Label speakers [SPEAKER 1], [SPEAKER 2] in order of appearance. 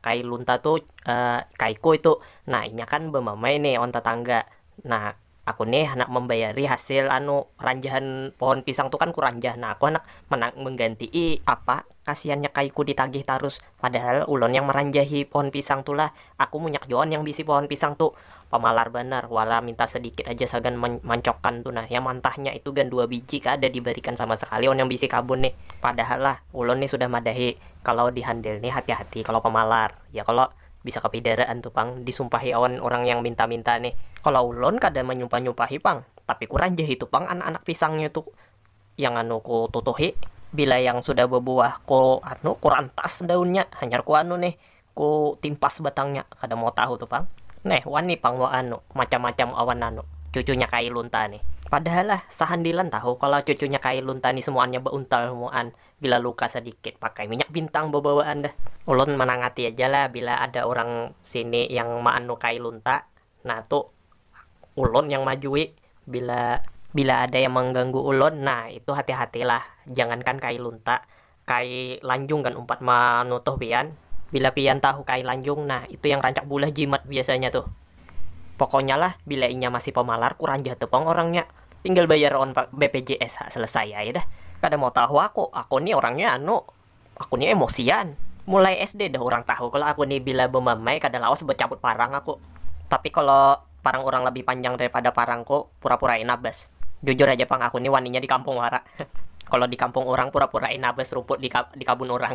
[SPEAKER 1] Kai lunta tu kai ku itu, nah inya kan bamamai nih wan tatangga, nah aku nih handak mambayari hasil anu ranjahan pohon pisang tu kan ku ranjah nah aku handak mangganti'i apa kasiannya kai ku ditagih tarus, padahal ulun yang maranjahi pohon pisang tu lah, aku munyak jua wan yang baisi pohon pisang tu. pamalar banar, wala minta sadikit aja sagan mancokkan tu nah, yang mantahnya itu gan dua biji kada dibarikan sama sakali wan yang bisi kabun nih, padahal lah ulun nih sudah madahi kalau di handil nih hati-hati kalau pamalar ya kalo, bisa kapidaraan tu pang disumpahi awan urang yang minta-minta nih. Kalau ulun kada manyumpah-nyumpahi pang, tapi kurang ja itu pang anak-anak pisangnya tu. Yang anu ku tutuhi, bila yang sudah babuah ku anu, ku rantas daunnya, hanyar ku anu nih, ku timpas batangnya, kada mau tahu tu pang. Neh, wani pang wa anu, macam-macam awan anu, cucunya Kai Lunta nih. Padahal lah, sahandilan tahu kalo cucunya Kai Lunta nih semuannya bauntal semuaan, bila luka sadikit pakai minyak bintang babawaan dah. Ulun manangati aja lah bila ada urang sini yang ma anu Kai Lunta. Nah tu ulun yang majui bila bila ada yang mangganggu ulun nah itu hati hati lah jangan kan kai lunta kai lanjung kan umpat manutuh pian bila pian tahu kai lanjung nah itu yang rancak bulah jimat biasanya tuh pokoknya lah bila inya masih pamalar kurang jatuh pang orangnya tinggal bayar on bpjs ha selesai ai dah kada mau tahu aku aku ni orangnya anu. Aku ni emosian. Mulai SD dah urang tahu kalo aku ni bila bemamai kada lawas becabut parang aku. Tapi kalo parang urang lebih panjang daripada parangku, pura-pura'i nabas. Jujur haja pang aku ni waninya di kampung wara. Kalo di kampung urang pura-pura'i nabas ruput di di kabun urang.